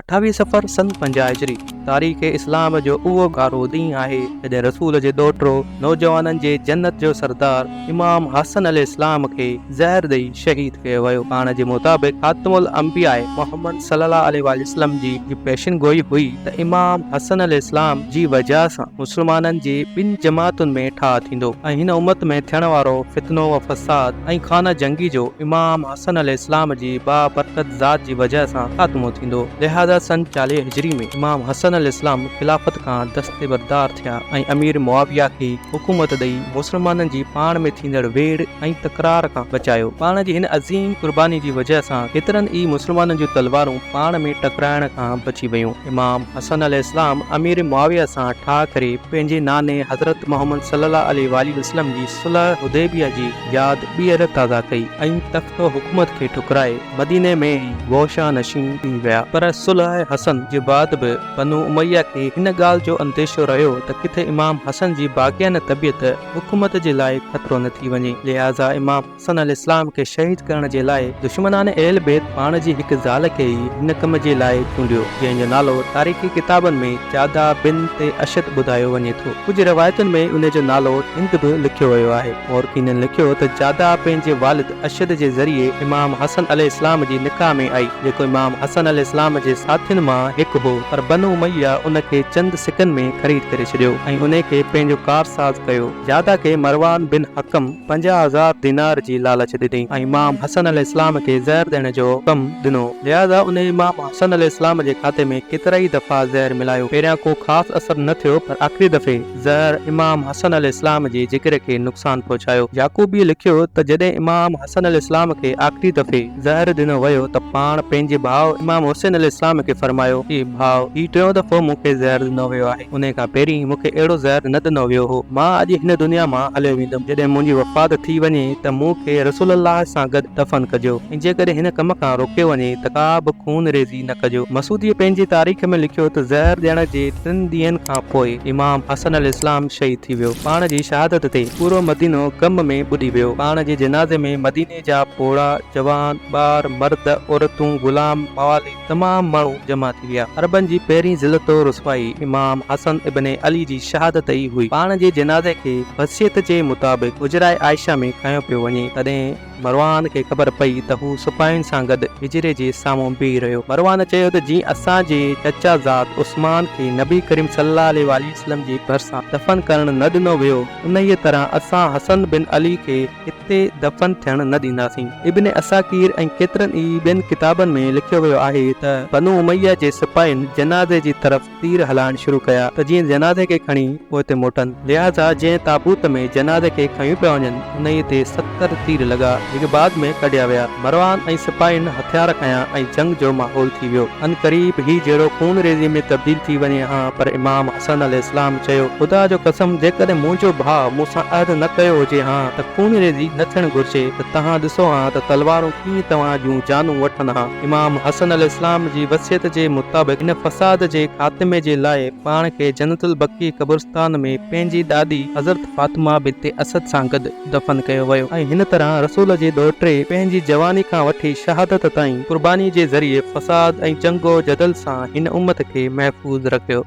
اٺاويهه صفر سن پنجاهه هجري تاريخ اسلام جو اهو ڳاڙهو ڏينهن آهي جڏهن رسول جي ڏوهٽو نوجوانن جي جنت جو سردار امام حسن عليه السلام کي زهر ڏئي شهيد ڪيو ويو پاڻ جي مطابق خاتم الانبياء محمد صلي الله عليه واٰله وسلم جي هي پيشن گوئي هئي ته امام حسن عليه السلام جي وجهه سان مسلمانن جي ٻن جماعتن ۾ ٺاهه ٿيندو ۽ هن امت ۾ ٿيڻ وارو فتنو و فساد ۽ خانه جنگي جو امام حسن عليه السلام جي با برڪت ذات جي وجهه سان خاتمو ٿيندو. لهذا سن چاليهه هجري ۾ امام حسن عليه السلام خلافت کان دستبردار ٿيا ۽ امير معاويه کي حڪومت ڏئي مسلمانن جي پاڻ ۾ ٿيندڙ ويڙهه ۽ تڪرار کان بچايو. پاڻ جي هن عظيم قرباني جي وجهه سان ڪيترن ئي مسلمانن جون تلوارون پاڻ ۾ ٽڪرائڻ کان بچي ويون. امام حسن عليه السلام امير معاويه سان ٺاهه ڪري پنهنجي ناني حضرت محمد صلي الله عليه واٰله وسلم جي صلح حديبيه جي ياد ٻيهر تازه ڪئي ۽ تخت و حڪومت کي ٺڪرائي مديني ۾ ئي بوشه نشين ٿي ويا پر صلح حسن جي بعد به بنو اميه کي هن ڳالهه جو انديشو رهيو ته ڪٿي امام حسن جي باغيانه طبيعت حڪومت جي لاء خطرو نه ٿي وڃي لهٰذا امام حسن عليه السلام کي شهيد ڪرڻ جي لاء دشمنان اهل بيت پاڻ جي هڪ زال کي ئي هن ڪم جي لاء چونڊيو جنهن جو نالو تاريخي ڪتابن ۾ جاده بنت اشد ٻڌايو وڃي ٿو. ڪجهه روايتن ۾ انهي جو نالو هند به لکيو ويو آهي. مورخينن لکيو ته جاده پنهنجي والد اشد جي ذريعي امام حسن عليه السلام جي نڪاح ۾ آئي، جيڪو امام حسن عليه السلام جي ساٿين مان هڪ هو، پر بنو اميه ان کي چند سڪن ۾ خريد ڪري ڇڏيو ۽ انهي کي پنهنجو ڪارساز ڪيو. جاده کي مروان بن حڪم پنجاهه هزار دينار جي لالچ ڏني ۽ امام حسن عليه السلام کي زهر ڏيڻ جو حڪم ڏنو، لهذا انهي امام. حسن عليه السلام جي کاتي ۾ ڪيترائي دفعا زهر ملايو، پهريان ڪو خاص اثر نه ٿيو پر آخري دفعي زهر امام حسن عليه السلام جي جگر کي نقصان پهچايو. يعقوبيء لکيو ته جڏهن امام حسن عليه السلام کي آخري دفعي زهر ڏنو ويو ته پاڻ پنهنجي ڀاء امام حسين عليه السلام کي فرمايو اي ڀاء هي ٽيون دفعو مون کي زهر ڏنو ويو آهي. انهيء کان پهرين مون کي اهڙو زهر نه ڏنو ويو هو. مان اڄ هن دنيا مان هليو ويندم. جڏهن منهنجي وفات ٿي وڃي ته مون کي رسول الله سان گڏ دفن ڪجو ۽ جيڪڏهن هن ڪم کان روڪيو وڃي ته ڪا به خون ريزي نه ڪجو. مسعوديء پنهنجي تاريخ ۾ لکيو ته زهر ڏيڻ جي ٽن ڏينهن کان پوء امام حسن عليه السلام شهيد ٿي ويو. پاڻ جي شهادت تي پورو مدينو غم ۾ ٻڏي ويو. پاڻ جي جنازي ۾ مديني جا پوڙها، جوان، ٻار، مرد، عورتون، غلام، موالي، تمام ماڻهو جمع ٿي ويا. عربن جي پهرين ذلت و رسوائي امام حسن ابن علي جي شهادت ئي هئي. پاڻ جي جنازي کي وصيت جي مطابق حجره عائشه ۾ کنيو پيو وڃي، تڏهن مروان کي خبر پئي ته هو سپاهين سان گڏ حجري جي سامهون بيهي رهيو. مروان چيو ته جي اسان جي چچا زاد عثمان کي نبي ڪريم صلي الله عليه واٰله وسلم جي ڀرسان دفن ڪرڻ نه ڏنو ويو، انهيء طرح اسان حسن بن علي کي هتي دفن ٿيڻ نه ڏينداسين. ابن عساڪير ۽ ڪيترن ئي ٻين ڪتابن ۾ لکيو ويو آهي ته بنو اميه جي سپاهين جنازي جي طرف تير هلائڻ شروع ڪيا ته جيئن جنازي کي کڻي پوئتي موٽن. لهٰذا جنهن تابوت ۾ جنازي کي کنيو پيا وڃن انهيء تي ستر تير لڳا جيڪي بعد ۾ ڪڍيا ويا. مروان ۽ سپاهين هٿيار کنيا ۽ جنگ جو ماحول ٿي ويو. عنقريب هي جهيڙو خون ريزي ۾ تبديل ٿي وڃي ها پر امام. حسن عليه السلام چيو، خدا جو قسم جيڪڏهن منهنجو ڀاء مون سان عهد نه ڪيو هجي ها ته خونريزي نه ٿيڻ گهرجي ته توهان ڏسو ها ته تلوارون ڪيئن توهان جون جانون وٺن ها. امام حسن عليه السلام جي وصيت جي مطابق هن فساد جي خاتمي جي لاء پاڻ کي جنت البقيع قبرستان ۾ پنهنجي ڏاڏي حضرت فاطمه بنت اسد سان گڏ دفن ڪيو ويو ۽ هن طرح رسول جي ڏوهٽي پنهنجي جواني کان وٺي شهادت تائين قرباني جي ذريعي فساد ۽ جنگ و جدل سان هن امت کي محفوظ رکيو.